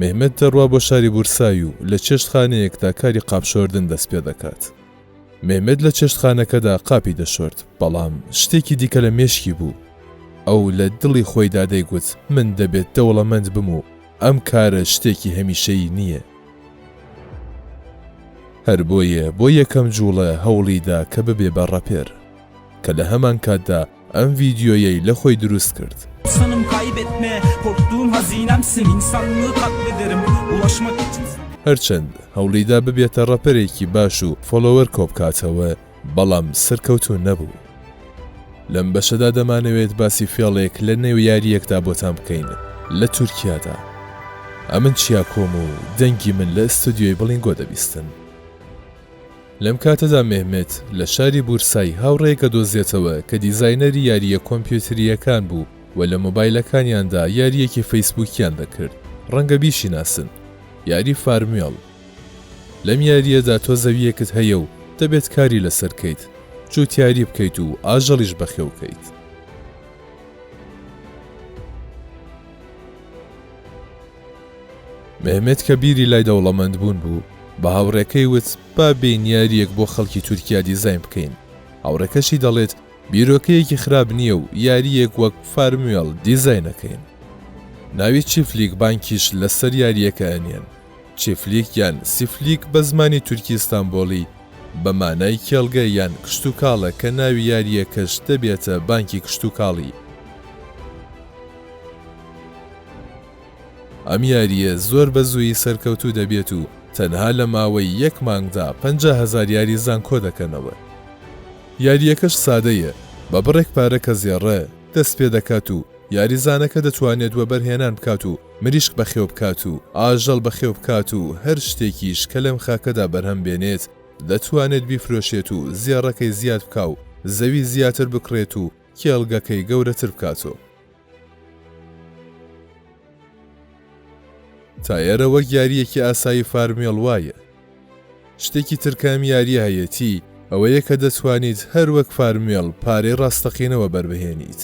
مێهمەت دەڕوا بۆ شاری بورسای و لە چێشتخانەیەکدا کاری قاپ شۆردن دەست پێ دەکات. مێهمەت لە چێشتخانەکەدا قاپی دەشۆرد، بەڵام شتێکی دیکە لە مێشکی بوو. ئەو لە دڵی خۆیدا دەیگوت من دەبێت دەوڵەمەند بم و ئەم کارە شتێکی هەمیشەیی نییە. هەر بۆیە بۆ یەکەم جووڵە هەوڵی دا کە ببێ بە ڕەپێر. کە لە هەمانکاتدا، ئەم ڤیدیۆیەی لە خۆی دروست کرد. هەرچەند هەوڵیدا ببێتە ڕەپەرێکی باش و فۆلۆوەر کۆبکاتەوە بەڵام سەرکەوتوو نەبوو. لەم بەشەدا دەمانەوێت باسی فێڵێک لە نێو یارییەکدا بۆتان بکەین لە تورکیادا. ئەمن چیاکۆم و دەنگی من لە ئستۆدیۆی بڵینگۆ دەبیستن. لەم کاتەدا مێهمێت لە شاری بورسای هاوڕێیەکە دۆزێتەوە کە دیزاینەری یارییە کۆمپیوترییەکان بوو و لە مۆبایلەکانیاندا یارییەکی فەیسبووکیان دەکرد، ڕەنگە بیشیناسن، یاری فارموێڵ. لەم یارییەدا تۆ زەوییەکت هەیە و دەبێت کاری لەسەر کەیت، جووتیاری بکەیت و ئاژەڵیش بەخێوکەیت. مێهمێت کە بیری لای دەوڵەمەند بوون بوو بە هاوڕێکەی وت با بێین یاریەک بۆ خەڵکی تورکیا دیزاین بکەین هاوڕێکەشی دەڵێت بیرۆکەیەکی خراپ نییە و یاریەک وەک فارموێڵ دیزاینەکەین ناوی چیفلیک بانکیش لەسەر یاریەکە ئەنێن چیفلیک یان سیفلیک بە زمانی تورکی ستانبۆڵی بە مانای کێڵگە یان کشتتوکاڵە کە ناوی یاریەکەش دەبێتە بانکی کشتتوکاڵی ئەم یارییە زۆر بە زوویی سەرکەوتوو دەبێت و تەنها لە ماوەی یەک مانگدا پەنجا هەزار یاریزان کۆدەکەنەوە. یارییەکەش سادەیە، بە بڕێک پارە کە زێڕە، دەست پێدەکات و یاریزانەکە دەتوانێت وەبەرهێنان بکات و مریشک بەخێوبکات و ئاژەڵ بەخێوبکات و هەر شتێکیش کە لەم خاکەدا بەرهەم بێنێت دەتوانێت بیفرۆشێت و زێڕەکەی زیاد بکا و زەوی زیاتر بکڕێت و کێڵگەکەی گەورەتر بکات و تایەرە وەک یاریەکی ئاسایی فارمێڵ وایە. شتێکی تر کە ئەم یاریە هەیەتی ئەوەیە کە دەتوانیت هەر وەک فارمێڵ پارەی ڕاستەقینەوە بەربهێنیت.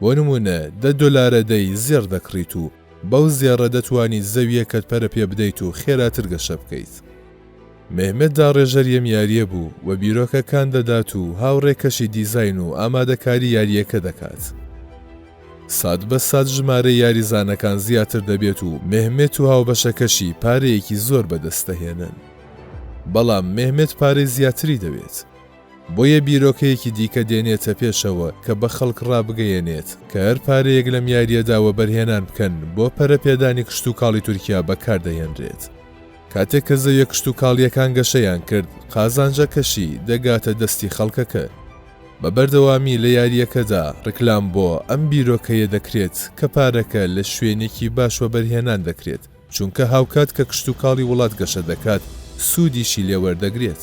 بۆ نمونە دە دۆلارە دەی زێڕ دەکڕیت و بەو زێڕە دەتوانیت زەویەکەت پەرە پێبدەیت و خێراتر گەشە بکەیت. مێهمەت داڕێژەر یەم یاریە بوو و بیرۆکە کان دەدات و هاوڕێ کەشی دیزاین و ئامادەکاری یاریەکە دەکات. سات بە سات ژمارەی یاریزانەکان زیاتر دەبێت و مێهمێت و هاوبەشەکەشی پارەیەکی زۆر بەدەست دەهێنن. بەڵام مێهمێت پارەی زیاتری دەوێت. بۆیە بیرۆکەیەکی دیکە دێنێتە پێشەوە کە بە خەڵک ڕابگەیەنێت کە هەر پارەیەک لەم یاریەدا وەبەرهێنان بکەن بۆ پەرەپێدانی کشتوکاڵی تورکیا بەکاردەهێنرێت. کاتێک کە زەویە کشتوکاڵییەکان گەشەیان کرد، قازانجەکەشی دەگاتە دەستی خەڵکەکە. بە بەردەوامی لە یارییەکەدا ڕیکلام بۆ ئەم بیرۆکەیە دەکرێت کە پارەکە لە شوێنێکی باش وەبەرهێنان دەکرێت، چونکە هاوکات کە کشتوکاڵی وڵات گەشە دەکات، سوودیشی لێ وەردەگرێت.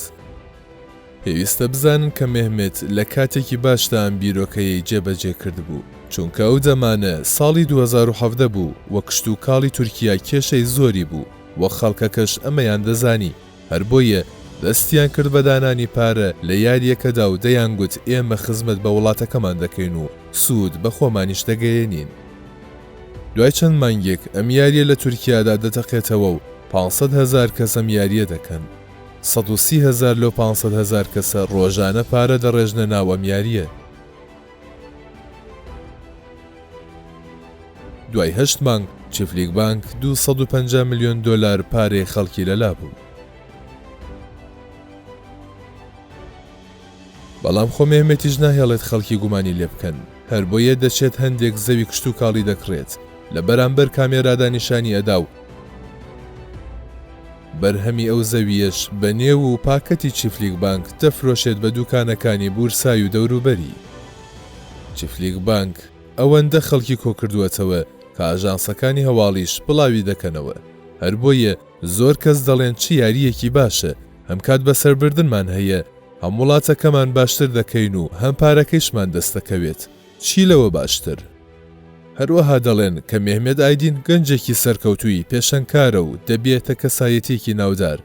پێویستە بزانن کە مێهمێت لە کاتێکی باشدا ئەم بیرۆکەیەی جێبەجێ کردبوو، چونکە ئەو دەمانە ساڵی دوو هەزار و حەڤدە بوو و کشتوکاڵی تورکیا کێشەی زۆری بوو، وە خەڵکەکەش ئەمەیان دەزانی هەر بۆیە دەستیان کرد بە دانانی پارە لە یاریەکەدا و دەیان گوت ئێمە خزمەت بە وڵاتەکەمان دەکەین و سود بە خۆمانیش دەگەیەنین. دوای چەند مانگێک ئەم یاریە لە تورکیادا دەتەقێتەوە و پانج سەد هەزار کەس ئەم یاریە دەکەن. سەد و سی هەزار لەو پانج سەد هەزار کەسە ڕۆژانە پارە دەڕێژنە ناو ئەم یاریە. دوای هەشت مانگ چیفلیک بانک دوو سەد و پەنجا ملیۆن دۆلار پارەی خەڵکی لەلا بوو. بەڵام خۆ مێهمەتیش ناهێڵێت خەڵکی گومانی لێ بکەن، هەر بۆیە دەچێت هەندێک زەوی کشتوکاڵی دەکڕێت، لە بەرامبەر کامێرادا نیشانی ئەدا و، بەرهەمی ئەو زەوییەش بە نێو و پاکەتی چیفلیک بانک دەفرۆشێت بە دووکانەکانی بورسای و دەوروبەری. چیفلیک بانک ئەوەندە خەڵکی کۆکردووەتەوە کە ئاژانسەکانی هەواڵیش بڵاوی دەکەنەوە، هەر بۆیە زۆر کەس دەڵێن چ یارییەکی باشە، هەم کات بەسەربردنمان هەیە، هەم وڵاتەکەمان باشتر دەکەین و هەم پارەکەیشمان دەستدەکەوێت. چی لەوە باشتر؟ هەروەها دەڵێن کە مێهمێت ئایدین گەنجێکی سەرکەوتووی پێشەنگکارە و دەبیەتە کەسایەتیەکی ناودار.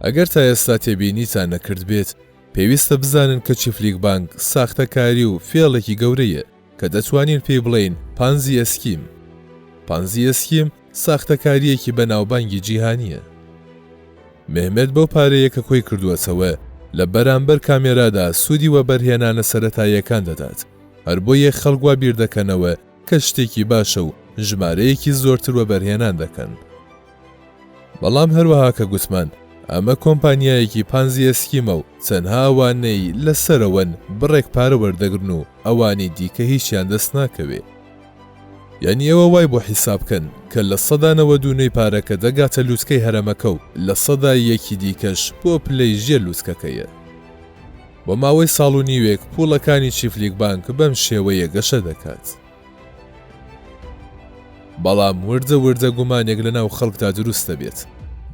ئەگەر تا ئێستا تێبینیتان نەکردبێت، پێویستە بزانن کە چیفلیک بانگ ساختەکاری و فێڵێکی گەورەیە کە دەتوانین پێی بڵێین پانزی ئێسکیم. پانزی ئێسکیم، ساختەکاریەکی بەناوبانگی جیهانیە. مێهمێت بەو پارەیە کە کۆی کردووەتەوە لە بەرامبەر کامێرادا سوودی وەبەرهێنانە سەرەتاییەکان دەدات، هەر بۆیە خەڵک وا بیردەکەنەوە کە شتێکی باشە و ژمارەیەکی زۆرتر وەبەرهێنان دەکەن. بەڵام هەروەها کە گوتمان ئەمە کۆمپانیایەکی پانزی ئێسکیمە و تەنها ئەوانەی لە سەرەوەن بڕێک پارە وەردەگرن و ئەوانی دیکە هیچیان دەست ناکەوێ. یانی ئێوە وای بۆ حیساب کەن کە لە سەدا نەوەد و نۆی پارەکە دەگاتە لوتکەی هەرەمەکە و لە سەدا یەکی دیکەش بۆ پلەی ژێر لوتکەکەیە. بۆ ماوەی ساڵ و نیوێک پووڵەکانی چیفلیک بانک بەم شێوەیە گەشە دەکات. بەڵام وردە وردە گومانێک لەناو خەڵکدا دروست دەبێت.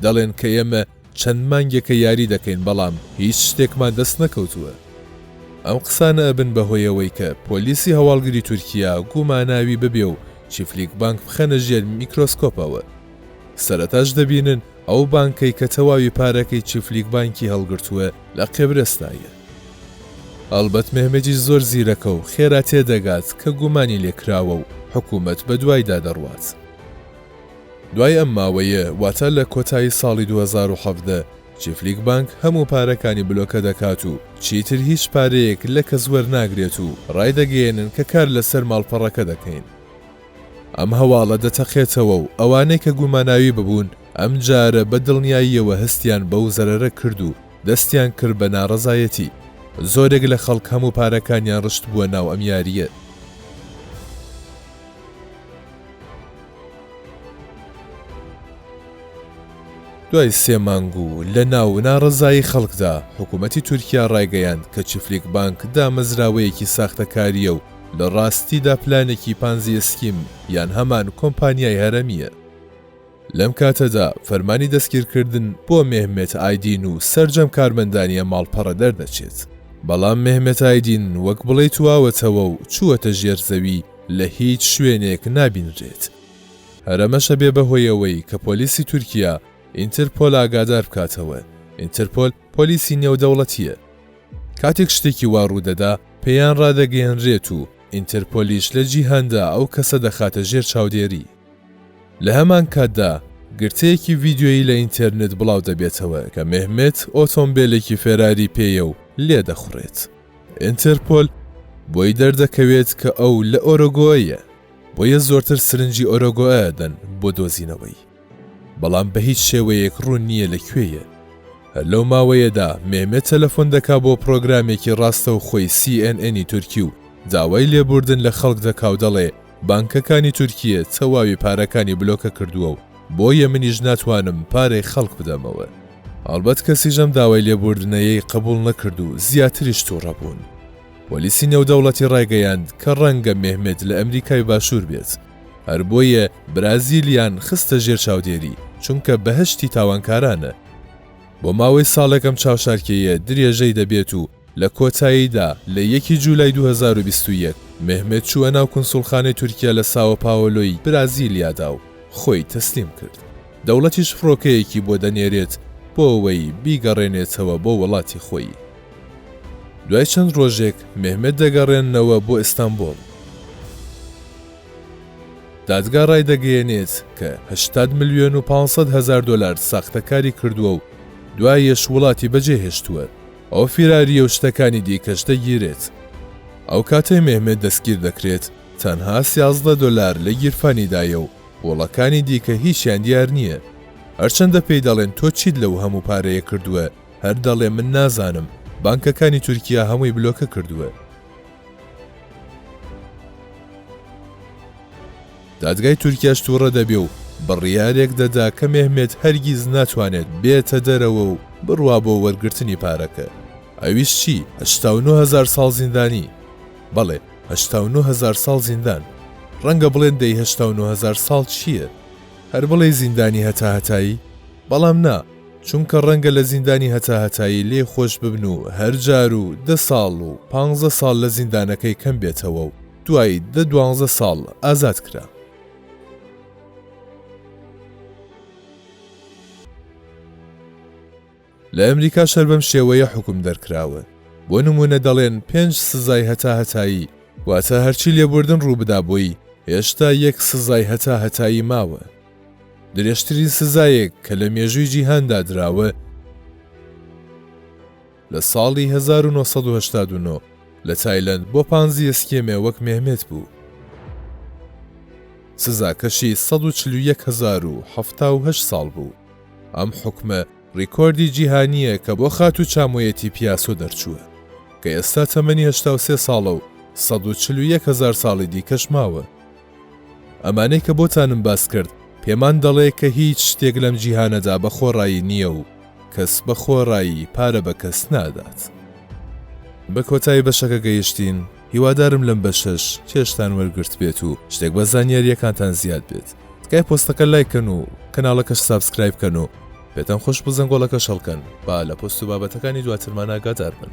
دەڵێن کە ئێمە چەند مانگێکە یاری دەکەین بەڵام هیچ شتێکمان دەست نەکەوتووە. ئەم قسانە ئەبن بەهۆی ئەوەی کە پۆلیسی هەواڵگری تورکیا گوماناوی ببێ و چیفلیک بانک بخەنە ژێر میکرۆسکۆپەوە. سەرەتاش دەبینن ئەو بانکەی کە تەواوی پارەکەی چیفلیک بانکی هەڵگرتووە لە قێبرەستایە. هەڵبەت مێهمەتیش زۆر زیرەکە و خێرا تێدەگات کە گومانی لێکراوە و حکوومەت بەدوایدا دەڕوات. دوای ئەم ماوەیە واتە لە کۆتایی ساڵی دوو هەزار و حەڤدە چیفلیک بانک هەموو پارەکانی بلۆکە دەکات و چیتر هیچ پارەیەک لە کەس وەرناگرێت و ڕایدەگەیەنن کە کار لەسەر ماڵپەڕەکە دەکەین. ئەم هەواڵە دەتەقێتەوە و ئەوانەی کە گوماناوی ببوون ئەم جارە بە دڵنیاییەوە هەستیان بەو زەرەرە کرد و دەستیان کرد بە ناڕەزایەتی. زۆرێک لە خەڵک هەموو پارەکانیان ڕشتبووە ناو ئەم یارییە. دوای سێ مانگ و لە ناو ناڕەزایی خەڵکدا، حکوومەتی تورکیا ڕایگەیاند کە چیفلیک بانک دامەزراوەیەکی ساختەکارییە و لە ڕاستیدا پلانێکی پانزی ئێسکیم یان هەمان کۆمپانیای هەرەمییە. لەم کاتەدا فەرمانی دەستگیرکردن بۆ مێهمێت ئایدین و سەرجەم کارمەندانیە ماڵپەڕە دەردەچێت، بەڵام مێهمێت ئایدین وەک بڵێی تواوەتەوە و چووەتە ژێر زەوی لە هیچ شوێنێک نابینرێت. هەر ئەمەشە بێ بەهۆی ئەوەی کە پۆلیسی تورکیا ئینترپۆل ئاگادار بکاتەوە، ئینترپۆل پۆلیسی نێودەوڵەتییە، کاتێک شتێکی وا ڕوودەدا پێیان ڕادەگەیەنرێت و ئینترپۆلیش لە جیهاندا ئەو کەسە دەخاتە ژێر چاودێری. لە هەمان کاتدا، گرتەیەکی ڤیدیۆیی لە ئینتێرنێت بڵاو دەبێتەوە کە مێهمێت ئۆتۆمبێلێکی فێراری پێیە و لێدەخوڕێت. ئینتەرپۆل بۆی دەردەکەوێت کە ئەو لە ئۆرۆگۆەیە، بۆیە زۆرتر سرنجی ئۆرۆگۆە ئەدەن بۆ دۆزینەوەی. بەڵام بە هیچ شێوەیەک ڕوون نییە لە کوێیە. هەر لەو ماوەیەدا مێهمێت تەلەفۆن دەکا بۆ پڕۆگرامێکی ڕاستەوخۆی سی ئێن ئێنی تورکی و داوای لێبووردن لە خەڵک دەکا و دەڵێ، بانکەکانی تورکیە تەواوی پارەکانی بلۆکە کردووە و بۆیە منیش ناتوانم پارەی خەڵک بدەمەوە. هەڵبەت کەسیش ئەم داوای لێبووردنەیەی قبوڵ نەکرد و زیاتریش توڕە بوون. پۆلیسی نێودەوڵەتی ڕایگەیاند کە ڕەنگە مێهمێت لە ئەمریکای باشوور بێت، هەر بۆیە برازیلیان خستە ژێر چاودێری، چونکە بەهەشتی تاوانکارانە. بۆ ماوەی ساڵێک ئەم چاوشارکێیە درێژەی دەبێت و لە کۆتاییدا لە یەکی جولای دوو هەزار و بیست و یەک مێهمێت چووە ناو کونسوڵخانەی تورکیا لە ساوە پاوەلۆی برازیلیادا و خۆی تەسلیم کرد، دەوڵەتیش فڕۆکەیەکی بۆ دەنێرێت بۆ ئەوەی بیگەڕێنێتەوە بۆ وەڵاتی خۆی. دوای چەند ڕۆژێک مێهمێت دەگەڕێننەوە بۆ ئیستانبوڵ. دادگا ڕایدەگەیەنێت کە هەشتاد ملیۆن و پانسەد هەزار دۆلار ساختەکاری کردووە و دوایەش وڵاتی بەجێهێشتووە، ئەو فیراریە و شتەکانی دیکەش دەگیرێت. ئەو کاتەی مێهمێت دەستگیر دەکرێت تەنها سیازدە دۆلار لە گیرفانیدایە و وڵەکانی دیکە هیچیان دیار نییە. هەرچەندە پێی دەڵێن تۆ چیت لەو هەموو پارەیە کردووە هەر دەڵێ من نازانم، بانکەکانی تورکیا هەمووی بلۆکە کردووە. دادگای تورکیاش تووڕە دەبێ و بڕیارێک دەدا کە مێهمێت هەرگیز ناتوانێت بێتە دەرەوە و بڕوا بۆ وەرگرتنی پارەکە. ئەویش چی؟ هەشتا و نۆ هەزار ساڵ زیندانی! بەڵێ، هەشتا و نۆ هەزار ساڵ زیندان! ڕەنگە بڵێن دەی هەشتا و نۆ هەزار ساڵ چییە؟ هەر بڵێی زیندانی هەتاهەتایی؟ بەڵام نا، چونکە ڕەنگە لە زیندانی هەتا هەتایی لێی خۆش ببن و هەر جار و دە ساڵ و پانزە ساڵ لە زیندانەکەی کەم بێتەوە و دوای دە دوانزە ساڵ ئازاد کرا. لە ئەمریکاش هەر بەم شێوەیە حوکم دەرکراون. بۆ نموونە دەڵێن پێنج سزای هەتا هەتایی، واتە هەرچی لێبوردن ڕوو بدا بۆی، هێشتا یەک سزای هەتا هەتایی ماوە. درێژترین سزایەک کە لە مێژووی جیهاندا دراوە لە ساڵی 1989 لە تایلەند بۆ پانزیە سکێمێ وەک مێهمێت بوو. سزاکەشی 141070 ساڵ بوو. ئەم حکومە ڕیکۆردی جیهانییە کە بۆ خات و چامۆیەتی پیاسۆ دەرچووە کە ئێستا تەمەنی 83 ساڵە و 141000 ساڵی دیکەش ماوە. ئەمانەی کە بۆتانم باس کرد پێمان دەڵێ کە هیچ شتێک لەم جیهانەدا بە خۆڕایی نییە و کەس بە خۆڕایی پارە بە کەس نادات. بە کۆتایی بەشەکە گەیشتین، هیوادارم لەم بەشەش چێژتان وەرگرت بێت و شتێک بە زانیارییەکانتان زیاد بێت. تکایە پۆستەکە لایک کەن و کەناڵەکەش سابسکرایب کەن و پێتان خۆش بوو زەنگۆڵەکەش هەڵکەن با لە پۆست و بابەتەکانی دواترمان ئاگادار بن.